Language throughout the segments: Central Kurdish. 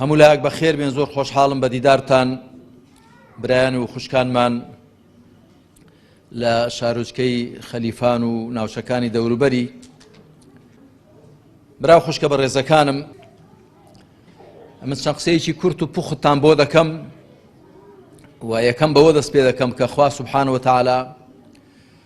هەموو لایەک بە خێر بێن زۆر خۆشحاڵم بە دیدارتان برایان و خوشکانمان لە شارۆچکەی خەلیفان و ناوچەکانی دەوروبەری برا خوشکە بە ڕێزەکانم من چەند قسەیەکی کورت و پوختان بۆ دەکەم و یەکەم بەوە دەست پێ دەکەم کە خوا سبحانەوە تاالە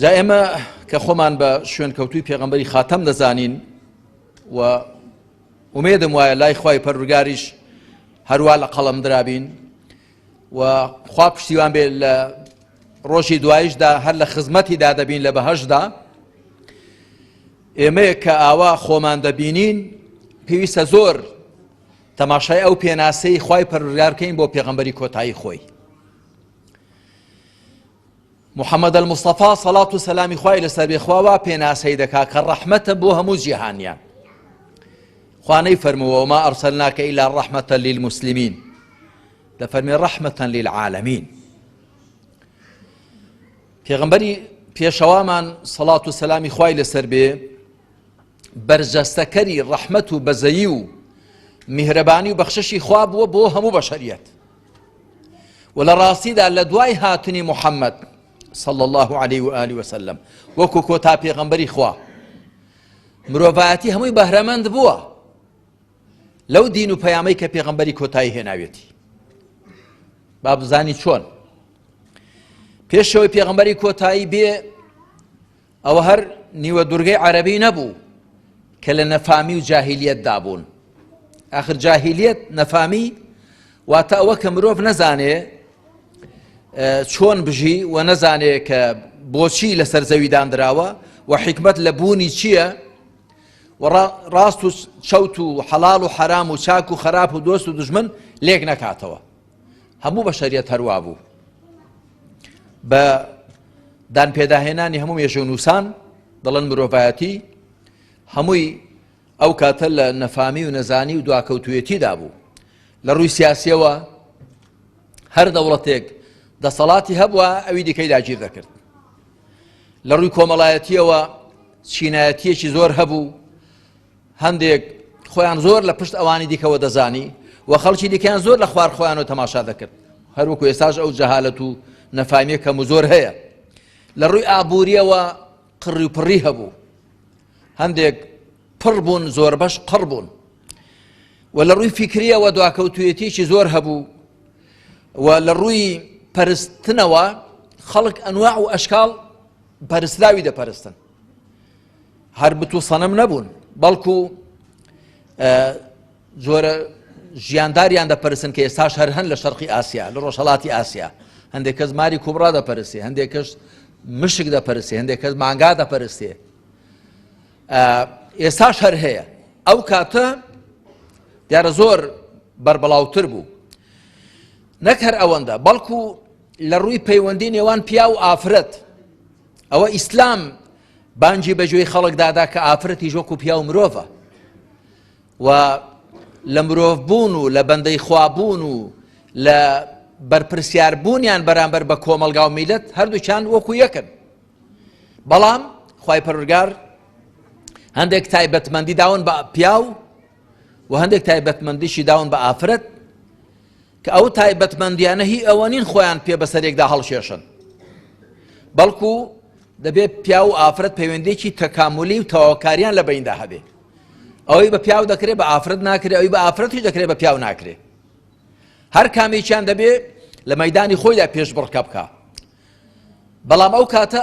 جا ئێمە کە خۆمان بە شوێن کەوتوی پێغمبەری خاتەم دەزانین و ومێدم وایە لای خی پەرورگاریش هەروە لە قەڵم درابین و خوا پشتیوان بێت لە ڕۆژی دوایشدا هەر لە خزمەتی دا دەبین لە بەهشدا ئێمەیە کە ئاوا خۆمان دەبینین پێویستە زۆر تەماشای ئەو پێناسەی خی پەرورگارکەین بۆ پێغمبەری کۆتایی خۆی محمد المصطفى صلاة و سەلامی خوای لەسەر بێ خوا وا پێناسەی دەکا کە ڕەحمەتە بۆ هەموو جیهانیان خوانەی فەرمووە ما ئەرسەلناکە ئیلا ڕەحمەتە للمسلمین لە فەرمی ڕەحمەتەن للعالمین پێغمبەری پێشەوامان سەڵات و سەلامی خوای لەسەر بێ بەرجەستەکەری ڕەحمەت و بەزەیی و میهرەبانی و بەخششی خوا بووە بۆ هەموو بەشەریەت و لە ڕاستیدا لە دوای هاتنی محەممەد صلى الله عليه وآله وسلم وەکو کۆتا پێغەمبەری خوا مرۆڤایەتی هەمووی بەهرەمەند بووە لەو دین و پەیامەی کە پێغەمبەری کۆتایی هێناوێتی با بزانی چۆن پێشەوەی پێغەمبەری کۆتایی بێ ئەوە هەر نیوە دورگەی عەرەبی نەبوو کە لە نەفامی و جاهیلیەت دابوون ئاخر جاهیلیەت نەفامی واتە ئەوە کە مرۆڤ نەزانێ چۆن بژی و نەزانێ کە بۆچی لەسەر زەوی دانراوە و حکمت لە بوونی چییە و ڕاست و چەوت و حەڵال و حرام و چاک و خراپ و دۆست و دژمن لێک نەکاتەوە هەموو بەشەریەت هەروابوو بە دان پێداهێنانی هەموو مێژە و نووسان دەڵێن مرۆڤایەتی هەمووی ئەو کاتە لە نەفامی و نەزانی و دواکەوتوێتیدا بوو لە ڕووی سیاسیەوە هەر دەوڵەتێک دەسەڵاتی هەبووە ئەوی دیکەی داگیر دەکرد لە ڕووی کۆمەڵایەتیەوە چینایەتیەکی زۆر هەبوو هەندێک خۆیان زۆر لە پشت ئەوانی دیکەوە دەزانی و خەڵکی دیکەیان زۆر لە خوار خۆیانەوە تەماشا دەکرد هەروەکو ئێستاش ئەو جەهالەت و نەفامیە کەم و زۆر هەیە لە ڕووی ئابووریەوە قڕی و پڕی هەبوو هەندێک پڕ بوون زۆربەش قڕ بوون و لە ڕووی فیکریەوە دواکەوتویەتیی زۆر هەبوو و لە ڕووی پەرستنەوە خەڵک ئەنواع و ئەشکاڵ پەرسلاوی دەپەرستن هەر بت و سەنەم نەبوون بەڵکو جۆرە ژیانداریان دەپەرسن کە ئێستاش هەر هەن لە شەرقی ئاسیا لە ڕۆژهڵاتی ئاسیا هەندێک کەس ماری کوبڕا دەپەرسێ هەندێک کەس مشک دەپەرسێ هەندێک کەس مانگا دەپەرستێ ئێستاش هەر هەیە ئەو کاتە دیارە زۆر بەربڵاوتر بوو نەک هەر ئەوەندە بەڵکو لە ڕووی پەیوەندی نێوان پیا و ئافرەت ئەوە ئیسلام بانگی بە گوێی خەڵکدا دا کە ئافرەتیش وەکو پیاو مرۆڤە و لە مرۆڤ بوون و لە بەندەی خوابوون و لە بەرپرسیاربوونیان بەرامبەر بە کۆمەلگا و میلەت هەردووچان وەکو یەکن بەڵام خی پەرگار هەندێک تایبەتمەندی داون بە پیاو و هەندێک تایبەتمەندیشی داون بە ئافرەت کە ئەو تایبەتمەندیانە هی ئەوە نین خۆیان پێ بەسەرێکدا هەڵکێشن بەڵکو دەبێت پیاو و ئافرەت پەیوەندێکی تەکاملی و تەواوکاریان لە بیندا هەبێ ئەوەی بە پیاو دەکرێت بە ئافرەت ناکرێت ئەوی بە ئافرەتی دەکرێت بە پیاو ناکرێت هەر کامێکیان دەبێت لە مەدانی خۆیدا پێش بڕکە بکە بەڵام ئەو کاتە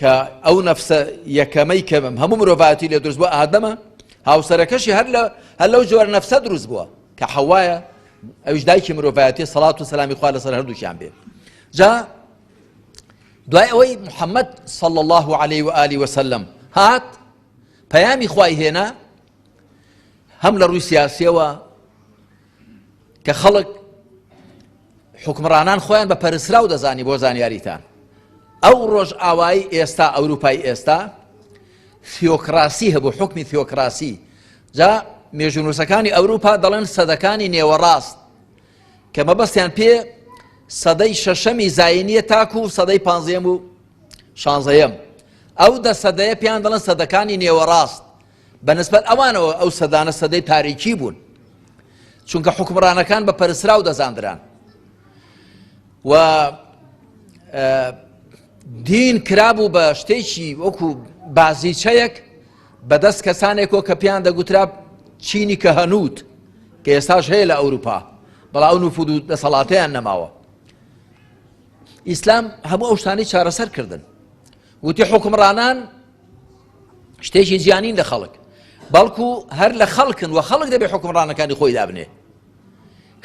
کە ئەو نەفسە یەکەمەی کە هەموو مرۆڤایەتی لێ دروست بۆ ئادەمە هاوسەرەکەشی هەر لە هەر لەو جۆر نەفسە دروست بووە کە حەوایە ئەوش دایکی مرۆڤایەتی سەڵات و سەلامی خوا لەسەر هەردووشیان بێ جا دوای ئەوەی محەممەد صل الله عليه و عالی وسلم هات پەیامی خوای هێنا هەم لە ڕووی سیاسیەوە کە خەڵک حوکمڕانان خۆیان بە پەرسراو دەزانی بۆ زانیاریتان ئەو ڕۆژئاوایی ئێستا ئەوروپای ئێستا ثیۆکراسی هەبوو حکمی ثیۆکراسی جا مێژونووسەکانی ئەوروپا دەڵێن سەدەکانی نێوەڕاست کە مەبەستیان پێ سەدەی شەشەمی زایینیە تاکو و سەدەی پانزەم و شانزەیەم ئەو دە سەدەیە پێیان دەڵێن سەدەکانی نێوەڕاست بە نسبەت ئەوانەوە ئەو سەدانە سەدەی تاریکی بوون چونکە حکومڕانەکان بە پەرسراو دەزاندران و دین کرابوو بە شتێکی وەکو بازیچەیەک بەدەست کەسانێکۆ کە پێیان دەگوترا چینی کە هەنووت کە ئێستاش هەیە لە ئەوروپا بەڵاو نوفود و دەسەڵاتیان نەماوە ئیسلام هەموو ئەو شتانی چارەسەر کردن وتی حکمڕانان شتێکی جیانین لە خەڵک بەڵکو هەر لە خەڵکن و خەڵک دەبێ حکومڕانەکانی خۆی دابنێ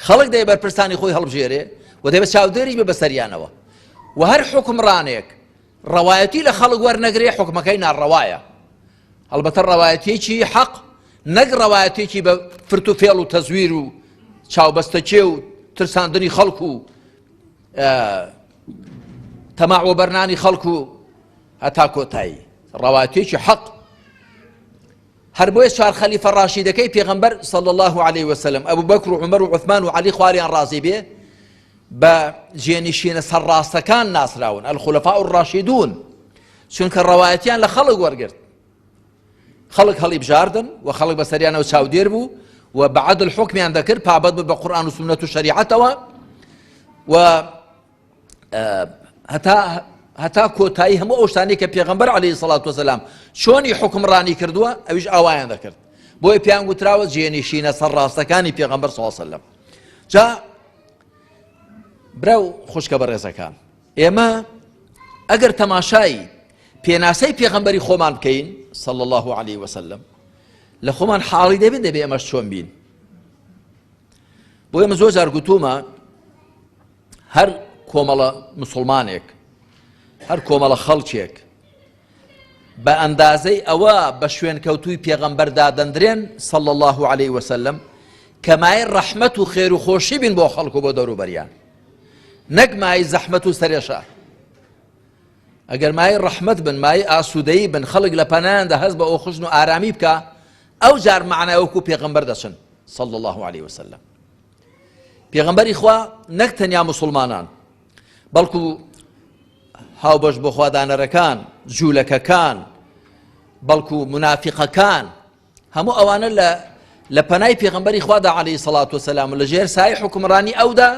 خەڵک دەبێ بەرپرسانی خۆی هەڵبژێرێ و دەبێ چاودێریش بە بەسەریانەوە و هەر حکومڕانێک ڕەوایەتی لە خەڵک وەرنەگرێ حکومەکەی ناڕەوایە هەڵبەتە ڕەوایەتێکی حەق نەک ڕەوایەتێکی بە فرت و فێڵ و تەزویر و چاوبەستەکێ و ترساندنی خەڵکو و تەماع وەبەرنانی خەڵک و هەتا کۆتایی ڕەواتێکی حەق هەر بۆیە چوار خەلیفە ڕاشیدەکەی پێغەمبەر صلی الله عليه وسلم ئەبو بەکر و عمر و عثمان و علی خواریان ڕازی بێ بە جێنشینە سەرڕاستەکان ناسراون الخلفاء الراشدون چونکە ڕەوایەتیان لە خەڵک وەرگرت خەڵک هەڵیبژاردن و خەڵک بەسەریانەوە چاودێر بوو و بە عەدل حکمیان دەکرد پابەت بە قورآن و سنت و شریعەتەوە و هەتا هەتا کۆتایی هەموو ئەو شتانی کە پێغمبەر عليه سڵات وسلام چۆنی حکمڕانی کردووە ئەویش ئاوایان دەکرد بۆی پێیان گوتراوە جێنیشینە سەر ڕاستەکانی پێغمبەر ساسەلم جا برا و خوشکە بە ڕێزەکان ئێمە ئەگەر تەماشایی پێناسەی پێغەمبەری خۆمان بکەین صلی الله عليه وسلم لە خۆمان حاڵی دەبێت دەبێ ئەمەش چۆن بین بۆ ئێمە زۆر جار گوتومە هەر کۆمەڵە مسلمانێک هەر کۆمەڵە خەڵکێک بە ئەندازەی ئەوە بە شوێن کەوتوی پێغەمبەر دادەندرێن سەڵ الله عليه وسلم کەمای ڕەحمەت و خێر و خۆشی بین بۆ خەڵکو بۆ دەوروبەریان نەک مایەی زەحمەت و سەرێشە ئەگەر مایەی ڕەحمەت بن مایەی ئاسوودەیی بن خەڵک لە پەنایاندا هەست بە ئۆخشن و ئارامی بکە ئەو جار معنای وەکو پێغمبەر دەچن صلى الله عليه وسلم پێغمبەری خوا نەک تەنیا مسلمانان بەڵکو هاوبەش بۆ خوادانەرەکان جوولەکەکان بەڵکو منافقەکان هەموو ئەوانە لە لە پەنای پێغمبەری خوادا عليه سەڵات وسلام و لە ژێر سای حکومڕانی ئەودا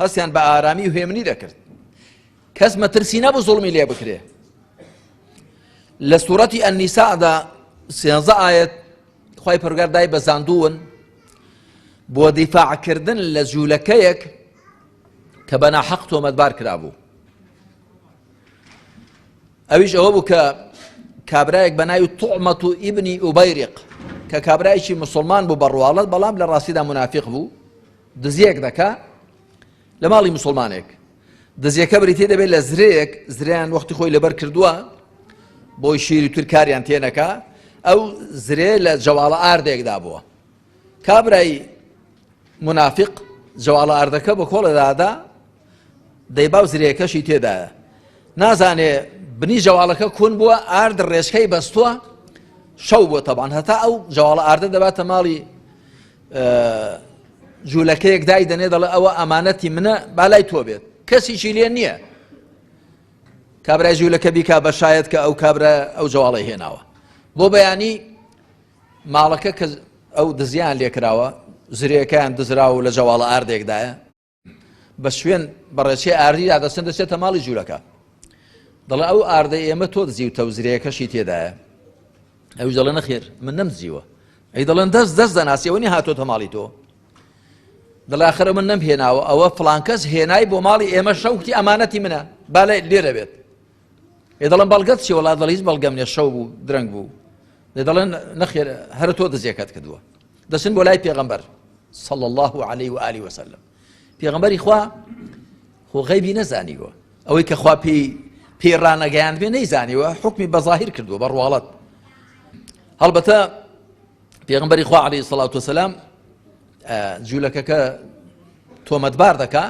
هەستیان بە ئارامی و هێمنی دەکرد کەس مەترسی نەبوو زڵمی لێ بکرێ لە سوورەتی ئەنیسادا سێنزە ئاەت خی پرگار دای بەزاندوون بۆ دیفاعکردن لە جوولەکەیەک کە بەنا حەق تۆمەتبار کرابوو ئەویش ئەوە بوو کە کابرایەک بە ناوی طعمەت و ئیبنی ئوبەیرق کە کابرایکی مسلمان بوو بە ڕواڵەت بەڵام لە ڕاستیدا منافق بوو دزیەک دەکا لە ماڵی مسلمانێک دزیەکە بریتێ دەبێت لە زرێک زریان وەختی خۆی لەبەر کردووە بۆی شیری ترکاریان تێنەکە ئەو زرێ لە جەواڵە ئاردێکدا بووە کابرای مونافیق جەواڵە ئاردەکە بە کۆڵە دادا دەی باو زرێکەشی تێدایە نازانێ بنی جەواڵەکە کون بووە ئارد ڕێژکەی بەستووە شەو بۆ تەبان هەتا ئەو جەواڵە ئاردە دەباتە ماڵی جوولەکەیەک دای دەنێ دەڵێ ئەوە ئەمانەتی منە بالای تۆ بێت کەسیی لێ نییە کابرای جوولەکە بیکا بە شاید کە ئەو کابرا ئەو جەواڵی هێناوە بۆ بەیانی ماڵەکە کە ئەو دزیان لێکراوە زرێکەیان دزراوە و لە جەواڵە ئاردێکدایە بە شوێن بەڕێچێ ئاردی دادەسن دەچێتە ماڵی جوولەکە دەڵێ ئەو ئاردە ئێمە تۆ دزیوتە و زرێکەشی تێدایە ئەو دەڵێ نەخێر من نەمزیوە ئەی دەڵێن دەست دەست دەناسیەوەنی هاتۆتە ماڵی تۆ دڵاخرە من نەم هێناوە ئەوە فلانکەس هێنای بۆ ماڵی ئێمە شەوتی ئەمانەتی منە بالێ لێرە بێت ئێ دەڵێن بەڵگەت چی وڵات دەڵی هیچ بەڵگەم نیە شەو بوو درەنگ بوو لێ دەڵێن نەخێر هەر تۆ دزیەکەت کردووە دەچن بۆ لای پێغەمبەر صلى الله عليه وآله وسلم پێغەمبەری خوا خۆ غەیبی نەزانیوە ئەوەی کە خوا پێی پێی ڕانەگەیان بێ نەیزانیوە حکمی بەظاهر کردووە بە ڕواڵەت هەڵبەتە پێغمبەری خوا عليه سڵات وسلام جوولەکەکە تۆمەتبار دەکا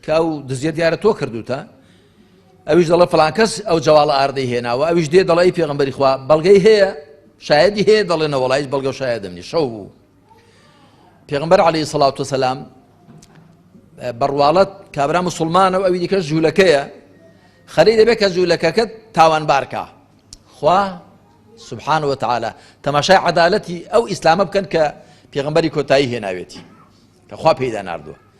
کە ئەو دزیە دیارە تۆ کردوتە ئەویش دەڵێ فڵان کەس ئەو جەواڵە ئاردەی هێناوە ئەویش دێ دەڵێ پێغمبەری خوا بەڵگەی هەیە شایدی هەیە دەڵێ نەوەڵایش بەڵگە شایدم نی شەو بوو پێغمبەر عليه سلااو وسلام بەڕواڵەت کابرا مسلمانە و ئەوی دیکەش جوولەکەیە خەری دەبێت کە جوولەکەکەت تاوان بارکە خوا سبحان وتعاالە تەماشای عدالەتی ئەو ئیسلامە بکەن کە پێغمبەری کۆتایی هێناوێتی کە خوا پێدا نردووە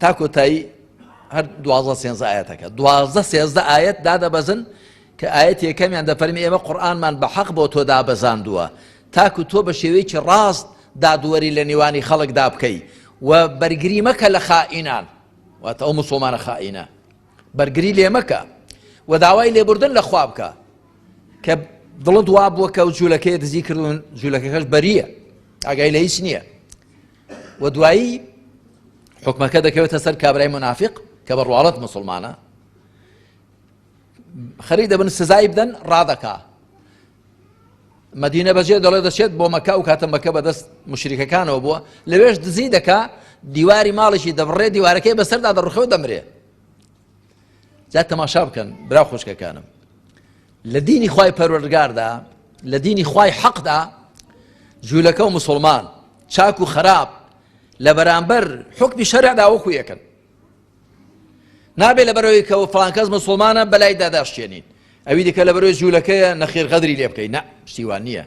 تا کۆتایی هەر دوازە سێنزە ئاەتەکە دوازدە سێزدە ئاەت دادەبەزن کە ئاەت یەکەمیان دەفەرمی ئێمە قورآنمان بە حەق بۆ تۆ دابەزاندووە تاکو تۆ بە شێوەیەکی ڕاست دادوەری لە نێوانی خەڵکدا بکەی و بەرگری مەکە لە خائینان واتە ئەو مسلمانە خائینە بەرگری لێ مەکە و داوای لێبوردن لە خواب بکە کە دڵت وا بووە کە و جوولەکەی دزی کردون جوولەکەکەش بەریە ئاگای لە هیچ نییە و دوایی حکومەکە دەکەوێتە سەر کابرای منافق کە بە ڕواڵەت مسلمانە خەری دەبن سزای بدەن ڕادەکا مدینە بەجێ دەڵێ دەچێت بۆ مەکە و کاتە مەکە بەدەست مشریکەکانەوە بووە لەوێش دزی دەکا دیواری ماڵێکی دەبڕێ دیوارەکەی بەسەردا دەڕخەوە دەمرێ جا تەماشا بکەن برا خوشکەکانم لە دینی خی پەروەردگاردا لە دینی خی حەقدا جوولەکە و مسلمان چاک و خراپ لە بەرامبەر حکمی شەرعدا وەکو یەکەن نابێت لە بەرەوەی کەەوە فلانکەس مسلمانە بەلای داداشتێنین ئەوی دیکە لە بەرەوەی جوولەکەیە نەخێر غەدری لێ بکەین نە شتیوان نییە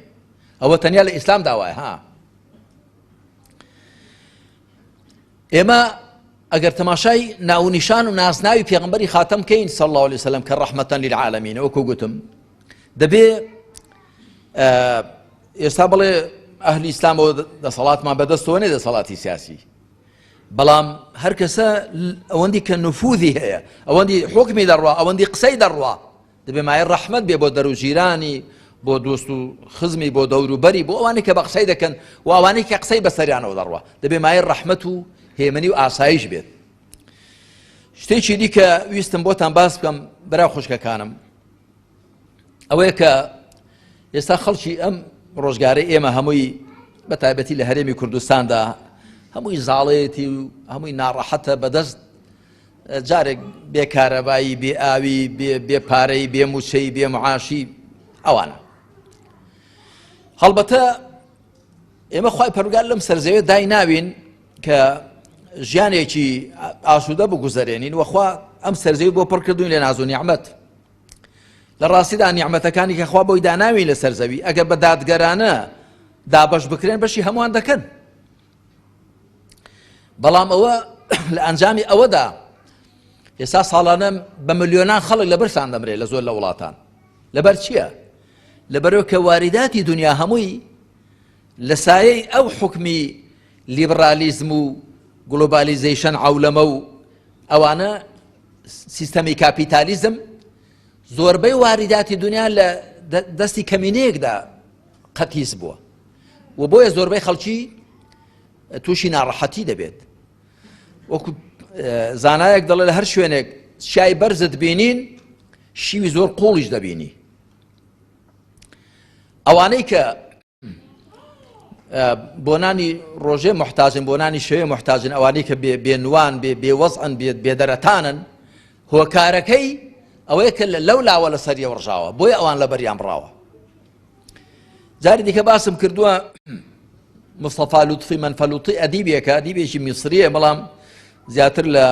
ئەوە تەنیا لە ئیسلام داوای ها ئێمە ئەگەر تەماشای ناونیشان و ناسناوی پێغمبەری خاتەم کەین سەڵ الله عليه وسلم کە ڕحمەتەن للعالمین وەکو گوتم دەبێ ئێستا بڵێ ئەهلی ئیسلامەوە دەسەڵاتمان بەدەستەوە نێ دەسەڵاتی سیاسی بەڵام هەر کەسە ئەوەندی کە نفوذی هەیە ئەوەندی حکمی دەڕوا ئەوەندی قسەی دەڕوا دەبێ مایەی ڕەحمەت بێ بۆ دەر و جیرانی، بۆ دۆست و خزمی، بۆ دەور و بەری، بۆ ئەوانەی کە بە قسەی دەکەن و ئەوانەی کە قسەی بە سەریانەوە دەڕوا، دەبێ مایەی ڕەحمەت و هێمنی و ئاسایش بێت. شتێکی دیکە ویستم بۆتان باس بکەم برا خوشکەکانم ئەوەیە کە ئێستا خەڵکی ئەم ڕۆژگارەی ئێمە هەمووی بە تایبەتی لە هەرێمی کوردستاندا هەمووی زاڵێتی و هەمووی ناڕەحەتە بەدەست جارێک بێ کارەبایی بێ ئاوی بێ پارەی بێ موچەی بێ معاشی ئەوانە هەڵبەتە ئێمە خی پەرگار لەم سەرزەوێت دای ناوین کە ژیانێکی ئاسوودە بگوزارێنین وەخوا ئەم سەرزەوی بۆ پڕکردوین لە نازو نیعممەت لە ڕاستیدا نیعممەتەکانی کەخوا بۆی داناوی لە سەرزەوی ئەگەر بە دادگەرانە دابش بکرێن بەشی هەمووان دەکەن بەڵام ئەوە لە ئەنجامی ئەوەدا ئێستا ساڵانە بە ملیۆنان خەڵک لە برسان دەمرێت لە زۆر لە وڵاتان لەبەر چییە؟ لەبەرەوە کە واریداتی دنیا هەمووی لە سایەی ئەو حکمی لیبرالیزم و گلۆبالیزیشن عولەمە و ئەوانە سیستەمی کاپیتالیزم زۆربەی واریداتی دنیا لە دەستی کەمینەیەکدا قەتیس بووە و بۆیە زۆربەی خەڵکی تووشی ناڕەحەتی دەبێت وەکو زانایەک دەڵێ لە هەر شوێنێک شای بەرزت بینین شیوی زۆر قوڵیش دەبینی ئەوانەی کە بۆنانی ڕۆژێ محتاجن بۆنانی شوێ محتاجن ئەوانەی کە بێنوان بێ بێوەزعن بێت بێدەرەتانن هۆکارەکەی ئەوەیە کە لەو لاوە لە سەریە ڕژاوە بۆی ئەوان لە بەریان بڕاوە جاری دیکە باسم کردووە مستەفا لوتفی منفەلوتی ئەدیبێکە دیبێکی میسریە بەڵام زیاتر لە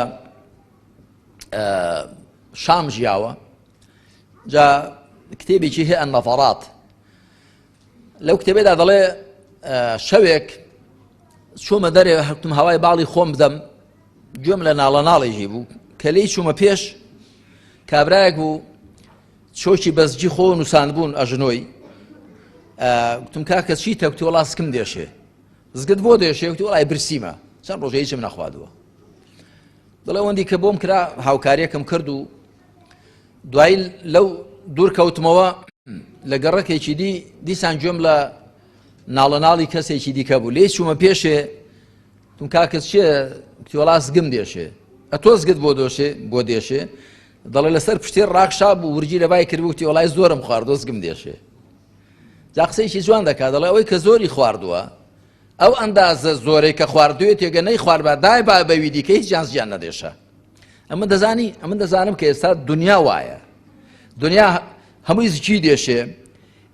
شام ژیاوە جا کتێبێکی هەیە نەفەڕات لەو کتێبێدا دەڵێ شەوێک چۆمە دەرێ هەتم هەوای باڵی خۆم بدەم گوێم لە ناڵە ناڵێژی بوو کە لی چوومە پێش کابراایەک بوو چۆکی بەس جی خۆ نوسان بوون ئەژنۆی ئە گوتم کاکە چی تەکتی وڵا سکم دێشێ زگت بۆ دێشێ وتی وڵای برسیمە چەند ڕۆژە هیچم نەخوادووە دڵێ وەندی کە بۆم کرا هاوکاریەکەم کرد و دوای لەو دوور کەوتمەوە لە گەڕەکێکی دی دیسان گوێم لە ناڵە ناڵی کەسێکی دیکە بوو لێ چوومە پێشێ تون کاکە چێ کتۆڵاس گم دێشێ ئە تۆزگت بۆ دۆشێ بۆ دێشێ دەڵێ لەسەر پشتێ ڕاخشا بوو ورگی لە بای کرد وتی وڵای زۆرم خوارد دۆستگم دێشێ جا قسەیشی جوان دەکات دەڵێ ئەوەی کە زۆری خواردووە ئەو ئەندازە زۆرەی کە خواردوێت تێگە نەی خوارد بە دای با بەوی دیکە هیچ جانس گیان نەدێشە ئەمە دەزانی ئەمە دەزانم کە ئێستا دنیا وایە دنیا هەمووی زکی دێشێ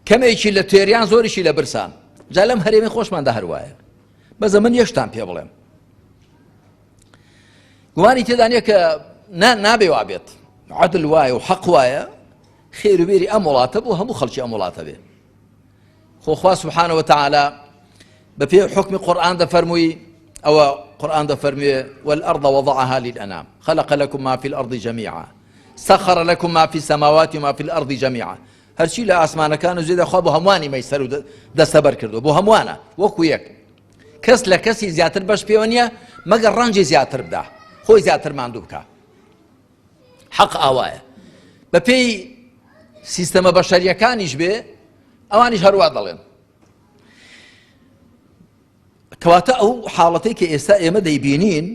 کەمێکی لە تێریان زۆریشی لە برسان جا لەم هەرێمی خۆشماندا هەروایە بەزە من یەشتان پێ بڵێم گومانی تێدا نیە کە نابێ وابێت عدل وایە و حەق وایە خێروبێری ئەم وڵاتە بۆ هەموو خەڵکی ئەم وڵاتە بێ خۆخوا سبحانەوە تعالا بە پێ حکمی قورآان دەفەرمووی ئەوە قورآان دەفەرموێ والأرض وضعها للأنام خلق لكم ما في الأرض جميعا سخر لكم ما في السماوات وما في الأرض جميعا هەرچی لە ئاسمانەکان و زێدە خوا بۆ هەمووانی مەسەر و دەسەبەر کردو بۆ هەمووانە وەکو یەک کەس لە کەسی زیاتر بەش پێوە نییە مەگەر ڕەنجی زیاتر بدا خۆی زیاتر ماندوو بکە حەق ئاوایە بەپێی سیستەمە بەشەریەکانیش بێ ئەوانیش هەروە دەڵێن کەواتە ئەو حاڵەتی کە ئێستا ئێمە دەیبینین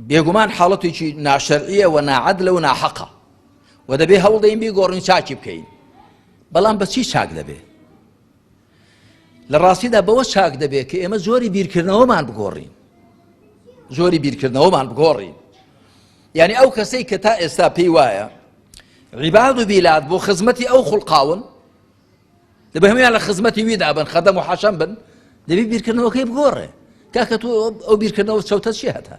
بێگومان حاڵەتێکی ناشەرعیە و ناعەد لەو ناحەقە و دەبێ هەوڵدەین بێ گۆڕین چاکی بکەین بەڵام بە چی چاک دەبێ لە ڕاستیدا بەوە چاک دەبێت کە ئێمە جۆری بیرکردنەوەمان بگۆڕین جۆری بیرکردنەوەمان بگۆڕین یعنی ئەو کەسەی کە تا ئێستا پێی وایە عیباد و بیلاد بۆ خزمەتی ئەو خوڵقاون دەبێ هەمیان لە خزمەتی ویدا بن خەدەم و حەشەم بن دەبی بیرکردنەوەکەی بگۆڕێ کاکە تۆ ئەو بیرکردنەوە چەوتە چی هەتا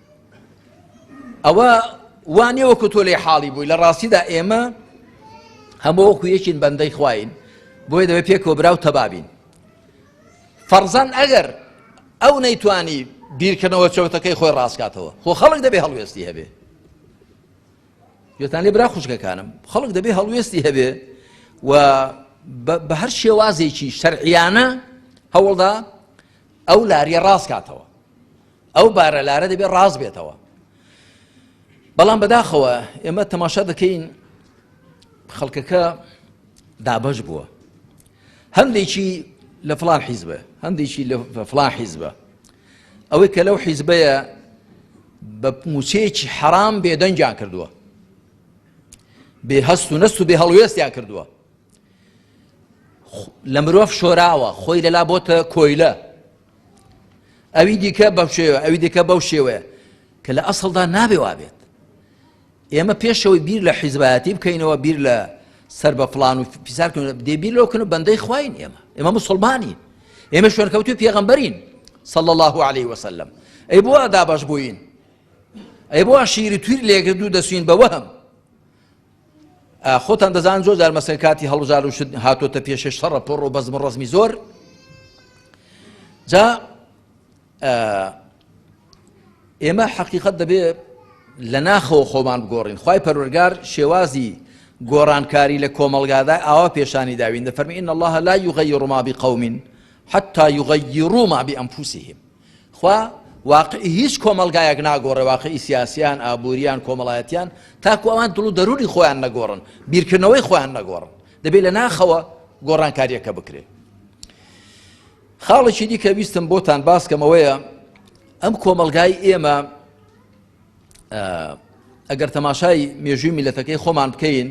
ئەوە وانێ وەکو تۆ لێ حاڵی بووی لە ڕاستیدا ئێمە هەموو وەکو یەکین بەندەی خوین بۆیە دەبێت پێ کۆبرا و تەبابین فەرزان ئەگەر ئەو نەیتوانی بیرکردنەوە چەوتەکەی خۆی ڕاستکاتەوە خۆ خەڵک دەبێ هەڵوێستی هەبێ یتان لێ برا خوشکەکانم خەڵک دەبێ هەڵوێستی هەبێ و بە هەر شێوازێکی شەرعیانە هەوڵدا ئەو لاریە ڕاستکاتەوە ئەو بارەلارە دەبێت ڕاست بێتەوە بەڵام بەداخەوە ئێمە تەماشا دەکەین خەڵکەکە دابش بووە هەندێکی لە فلان حیزبە هەندێکی لە فلان حیزبە ئەوەی کە لەو حیزبەیە بە موچەیەکی حەرام بێدەنگیان کردووە بێ هەست و نەست و بێ هەڵوێستیان کردووە لە مرۆڤ شۆراوە خۆی لەلا بۆتە کۆیلە ئەوی دیکە بەم شێوە ئەوی دیکە بەو شێوەیە کە لە ئەسڵدا نابێ وابێت ئێمە پێشەوەی بیر لە حیزبایەتی بکەینەوە بیر لە سەر بە فلان و پیسارکن دەبیر لەوکن و بەندەی خواین ئێمە ئێمە مسلمانین ئێمە شوێنکەوتوی پێغمبەرین صل الله عليه وسلم ئەی بۆ ئەدا بەش بووین ئەی بۆ شیری تویر لێگردوو دەسوین بە وەهم خۆتان دەزان زۆر جار مەسەن کاتی هەڵبژار و شت هاتۆتە پێشێ شەڕە پۆڕ و بەزم ڕزمی زۆر جا ئێمە حەقیقت دەبێ لە ناخەوە خۆمان بگۆڕین خی پەرۆرگار شێوازی گۆڕانکاری لە کۆمەلگادا ئاوا پێشانی داوین دەفەرمی ان الله لا یغی ڕما بقومین حتا یغی ڕووما بی ئەمفوسیهم خوا واقعی هیچ کۆمەڵگایەک ناگۆڕێ واقعی سیاسیان ئابووریان کۆمەڵایەتیان تاکو ئەوان دڵ و دەروونی خۆیان نەگۆڕن بیرکردنەوەی خۆیان نەگۆڕن دەبێت لە ناخەوە گۆڕانکاریەکە بکرێت خاڵێکی دیکە ویستم بۆتان باسکەمەوەیە ئەم کۆمەلگای ئێمە ئەگەر تەماشای مێژووی میلەتەکەی خۆمان بکەین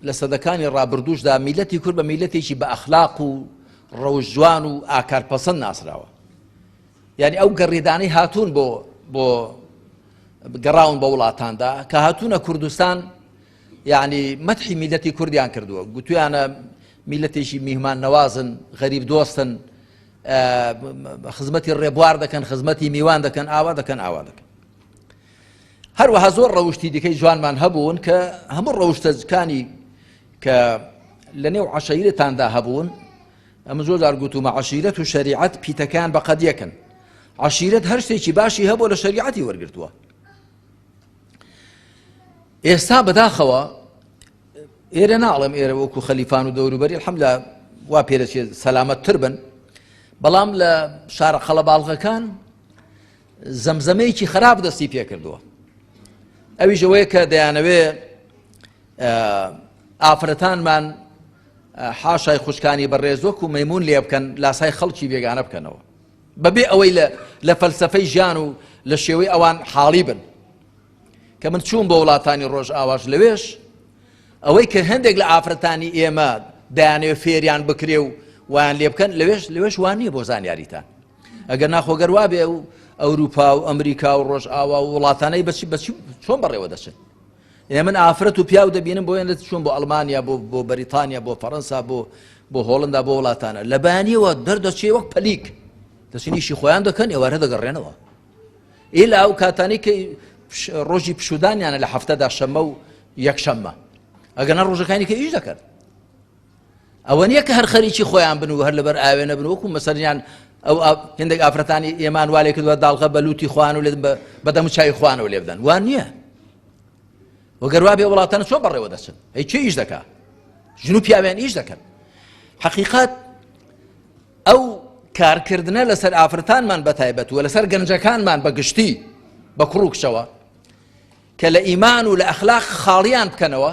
لە سەدەکانی ڕابردووشدا میلەتی کورد بە میلەتێکی بە ئەخلاق و ڕەوش جوان و ئاکار پەسەند ناسراوە یعنی ئەو گەڕێدانەی هاتوون بۆ بۆ گەڕاون بە وڵاتاندا کە هاتوونە کوردستان یعنی مەتحی میلەتی کوردیان کردووە گوتویانە میلەتێکی میهمان نەوازن غەریب دۆستن خزمەتی ڕێبوار دەکەن خزمەتی میوان دەکەن ئاوا دەکەن ئاوا دەکەن هەروەها زۆر ڕەوشتی دیکەی جوانمان هەبوون کە هەموو ڕەوشتەکانی کە لە نێو عشیرتاندا هەبوون ئەمە زۆر جار گوتومە عشیرەت و شریعەت پیتەکان بە قەدیەکەن عشیرەت هەر شتێکی باشی هەبوو لە شریعەتی وەرگتووە ئێستا بەداخەوە ئێرە ناڵێم ئێرە وەکو خەلیفان و دەوروبەری حەم لە وا پێرەچێت سەلامەت تر بن بەڵام لە شارە قەڵەباڵغەکان زەمزەمەیەکی خراپ دەستی پێکردووە ئەویش ئەوەیە کە دەیانەوێ ئافرەتانمان حاشای خوشکانی بەڕێز وەکو مەمون لێ بکەن لاسای خەڵکی بێگانە بکەنەوە بەبێ ئەوەی لە فەلسفەی ژیان و لە شێوەی ئەوان حاڵی بن کە من چوون بە وڵاتانی ڕۆژ ئاواش لەوێش ئەوەی کە هەندێک لە ئافرەتانی ئێمە دایانێ فێریان بکرێ و وان لێ بکەن لەوێش لەوێش وان نییە بۆ زانیاریتان ئەگەرنا خۆ گەر وابێ و ئەوروپا و ئەمریکا و ڕۆژئاوا و وڵاتانەی بەچی بەچی چۆن بەڕێوە دەچن ئێ من ئافرەت و پیاو دەبینم بۆیان لە چۆن بۆ ئەلمانیا بۆ بۆ بەریتانیا بۆ فەڕەنسا بۆ بۆ هۆڵندا بۆ وڵاتانە لە بەیانیەوە دەردەچێ وەک پەلیک دەچنیشی خۆیان دەکەن ئێوارە دەگەڕێنەوە ئیلا ئەو کاتانی کە ڕۆژی پشودانیانە لە هەفتەدا شەمە و یەکشەممە ئەگەنا ڕۆژەکانی کە ئیش دەکەن ئەوەنیە کە هەر خەریکی خۆیان بن و هەر لەبەر ئاوێنە بن وەکو مەسەریان ئەو هندێک ئافرەتانی ئێمان والێ کردوە داڵغە بە لوتی خوان و لێ بەدەم چای خوانەوە لێ بدەن وان نییە وەگەروا بێ وڵاتانە چۆن بەڕێوە دەچن ئەی چی ئیش دەکا ژن و پیاویان ئیش دەکەن حقیقات ئەو کارکردنە لەسەر ئافرەتانمان بەتایبەت و لەسەر گەنجەکانمان بە گشتی بە کوڕ و کچەوە کە لە ئیمان و لە ئەخلاق خاڵیان بکەنەوە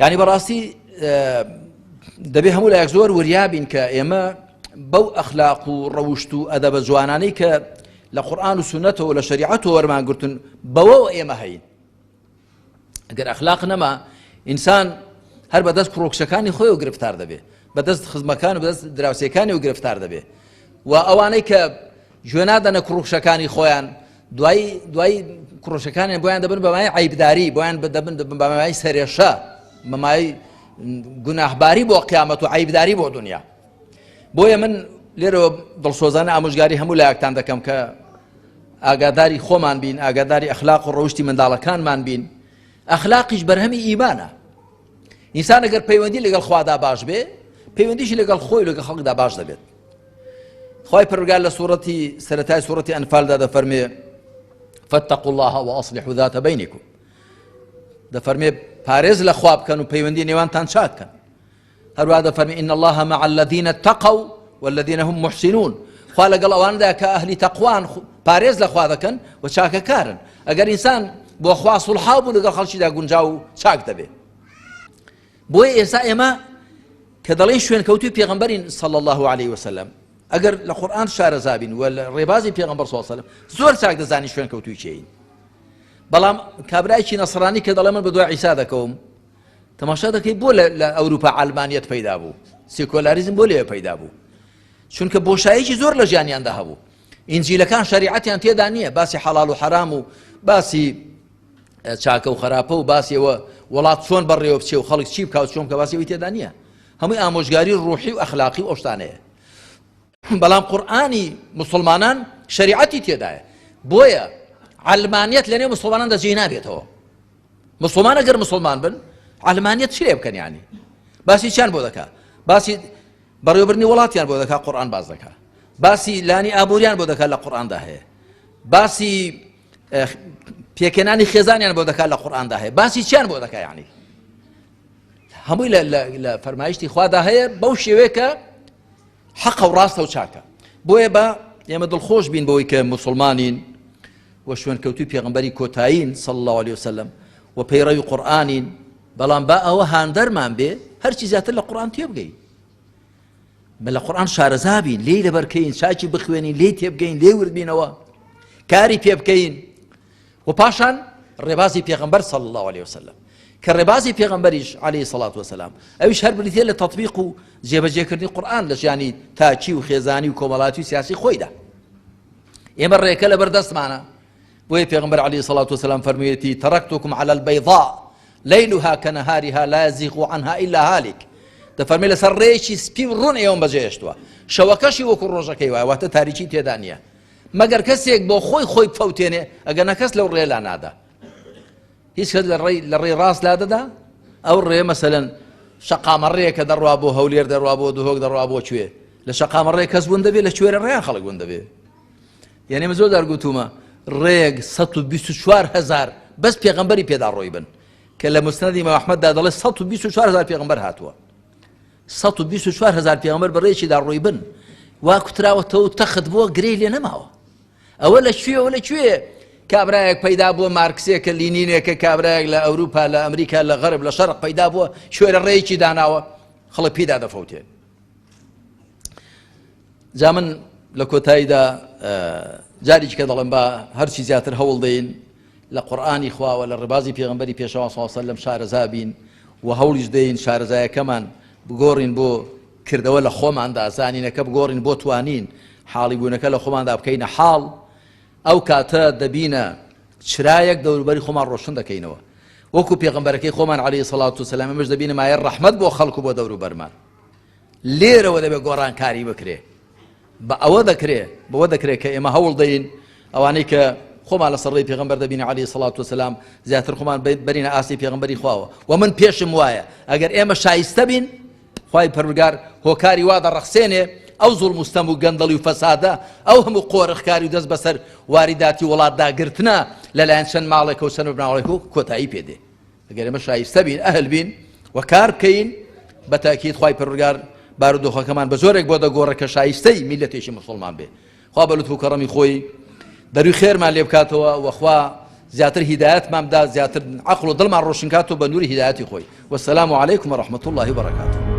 یعنی بەڕاستی دەبێ هەموو لایەک زۆر وریابین کە ئێمە بەو ئەخلاق و ڕەوشت و ئەدە بە جوانانەی کە لە قورآان و سونەتەوە لە شریعەت و وەرمان گرتن بەوە ئێمە هەین ئەگەر ئەخلاق نەما ئینسان هەر بەدەست پرۆکسەکانی خۆی و گرفتار دەبێ بەدەست خزمەکان و بەدەست دراوسەکانی و گرفتار دەبێ و ئەوانەی کە گوێ نادەنە کوڕوکشەکانی خۆیان دوایی دوایی کوڕشەکانیان بۆیان دەبن بەمای عیبداری بۆیان دەبن بەمای سەرێشە بەمای گوناهباری بۆ قیامەت و عیبداری بۆ دنیا بۆیە من لێرەوە دڵسۆزانە ئامۆژگاری هەموو لایەکتان دەکەم کە ئاگاداری خۆمان بین ئاگاداری ئەخلاق و ڕەوشی منداڵەکانمان بین ئەخلاقیش بەرهەمی ئیمانە ئینسان ئەگەر پەیوەندی لەگەڵ خوادا باش بێ پەیوەندیشی لەگەڵ خۆی لەگە خەڵکدا باش دەبێت خی پرگال لە سوورەتی سەتای سوورەتی ئەنفالدا دەفەرمێ فتق الله و ئەاصلی حداتە بینیکم دەفەرمێ پارێز لە خواب بکەن و پەیوەندی نێوانتان چاکەن هەروە دەفەرمی إن الله مع الذين اتقوا والذين هم محسنون خوا لەگەڵ ئەواندا کە ئەهلی تەقوان پارێز لە خوا دەکەن و چاکەکارن ئەگەر ئینسان بۆ خوا سوڵحاو بوو لەگەڵ خەڵکیدا گونجاو و چاک دەبێ بۆیە ئێستا ئێمە کە دەڵێن شوێنکەوتوی پێغمبەرین سەڵ الله عليه وسلم ئەگەر لە قورآان شارەزابین و لە ڕێبازی پێغمبەر سوسلم زۆر چاک دەزانی شوێنکەوتوی چین بەڵام کابراایکی نەسرانی کە دەڵێ من بە دوای عیسا دەکەوم تەماشا دەکەی بۆ لە ئەوروپا ئالمانیت پیدا بوو سیکۆلاریزم بۆ لێ پیدا بوو چونکە بۆشایەکی زۆر لە ژیانیاندا هەبوو ئینجیلەکان شەریعەتیان تێدا نییە باسی حەڵال و حەرام و باسی چاکە و خراپە و باسیەوە وڵات چۆن بەڕێوە بچێ و خەڵک چی بکاو چۆن کە باسیەوەی تێدا نییە هەمووی ئامۆژگاری ڕوحی و ئەخلاقی و ئەوشتانەیە بەڵام قورآانی مسلمانان شریعەتی تێدایە بۆیە علمانیت لەنێ مسلمانان دەجێ نابێتەوە مسلمان ئەگەر مسلمان بن علمانیت چێ بکەنیانی باسی چیان بۆ دەکات باسی بەڕێوەبردنی وڵاتیان بۆ دەکا قورئان باس دەکا باسی لانی ئابووریان بۆ دەکا لە قورئاندا هەیە باسی پێکەنانی خێزانیان بۆ دەکا لە قورئاندا هەیە باسی چیان بۆ دەکا یعنی هەمووی لە فەرمایشتی خوادا هەیە بەو شێوەیەکە حەقە و ڕاستە و چاکە بۆیە بە ئێمە دڵخۆش بین بەوەی کە مسلمانین و شوێنکەوتووی پێغەمبەری کۆتایین، صلی اللە علیە وسلم، و پەیڕەوی قورئانین، بەڵام با ئەوە هاندەرمان بێ هەرچی زیاتر لە قورئان تێبگەین، بە لە قورئان شارەزا بین، لێی لەبەرکەین، چاکی بخوێنین، لێی تێبگەین، لێی وردبینەوە، کاری پێ بکەین، و پاشان ڕێبازی پێغەمبەر، صلی اللە علیە وسلم، کە ڕێبازی پێغەمبەریش، علیە الصلوة والسلام، ئەویش هەر بریتییە لە تەطبیق و جێبەجێکردنی قورئان لە ژیانی تاکی و خێزانی و کۆمەڵایەتی و سیاسی خۆیدا. ئێمە ڕێکە لەبەر دەستمانە بۆیە پێغمبەر علی سەڵات وسلام فەرموویەتی تەڕکتوکم على البيضاء ليلها كنهارها لا يزيغ عنها إلا هالك دەفەرمی لەسەر ڕێکی سپی و ڕوون ئێوەم بەجێشتووە شەوەکەشی وەکو ڕۆژەکەی وایە واتە تاریکی تێدا نییە مەگەر کەسێک بۆ خۆی خۆی بفەوتێنێ ئەگەر نەکەس لەو ڕێلا نادا هیچ کەس لە ڕێی ڕاست لادەدا ئەو ڕێ مەسەلەن شەقامەڕێ کە دەڕوا بۆ هەولێر دەڕوا بۆ دهۆک دەڕوا بۆ کوێ لە شەقامەڕێ کەس بوون دەبێت لە کوێرە ڕێیان خەڵک بوون دەبێت یعنی من زۆر دەرگوتومە ڕێک 124 هزار بەس پێغمبەری پێدا ڕۆی بن کە لە مستندی مەحمەددا دەڵێ 124 هزار پێغمبەر هاتووە 124 هزار پێغمبەر بەڕێکیدا ڕۆی بن وا کوتراوەتەوە تەخت بووە گرێ لێ نەماوە ئەوە لە کوێ ئەوە لە کوێ کابرایەک پەیدا بووە مارکسێکە لینینێکە کابرایەک لە ئەوروپا لە ئەمریکا لە غەرب لە شەرق پەیدا بووە شوێرە ڕێیەکی داناوە خەڵک پیدا دەفەوتێ جا من لە کۆتاییدا جاریی کە دەڵم بە هەرچی زیاتر هەوڵ دەین لە قورآانی خواوە لە ڕێبازی پێغمبەری پێشەواسەواسە لەم شارەزا بین و هەوڵیش دەین شارەزایەکەمان بگۆڕین بۆ کردەوە لە خۆماندا زانینەکە بگۆڕین بۆ توانین حاڵی بوونەکە لە خۆماندا بکەینە حاڵ ئەو کاتە دەبینە چرایەک دەوروبەری خۆمان ڕۆشن دەکەینەوە وەکو پێغمبەرەکەی خۆمان عەلەیهی سەڵات و سەلام ئێمەش دەبینە مایە ڕەحمەت بۆ خەڵک و بۆ دەوروبەرمان لێرەوە دەبێت گۆڕانکاری بکرێ بە ئەوە دەکرێ بەوە دەکرێ کە ئێمە هەوڵ دەین ئەوانەی کە خۆمان لەسەر ڕێی پێغەمبەر دەبینە عەلەیهی سڵات وسلام زیاتر خۆمان بەرینە ئاستی پێغەمبەری خواوە و من پێشم وایە ئەگەر ئێمە شایستە بین خی پەرگار هۆکاری وا دەڕەخسێنێ ئەو زۆڵ مستەم و گەندەڵی و فەسادە ئەو هەموو قۆرخکاری و دەست بەسەر واریداتی وڵاتداگرتنە لەلایەن چەند ماڵێکە و چەند بناوڵێک و کۆتایی پێدێ گەر ئێمە شایستە بین ئەهل بین و کار بکەین بە تاکید خوای پەروەردگار بارودۆخەکەمان بە جۆرێک بۆ دەگۆڕێ کە شایستەی میلەتێکی مسلمان بێ خوا بە لوتف و کەڕەمی خۆی دەروی خێرمان لێ بکاتەوە وەخوا زیاتر هیداەتمان بدا زیاتر عقل و دڵمان ڕۆشنکات و بە نووری هیداەتی خۆی وەسەسلام و عیکم و ڕحمەت الله بەڕکات.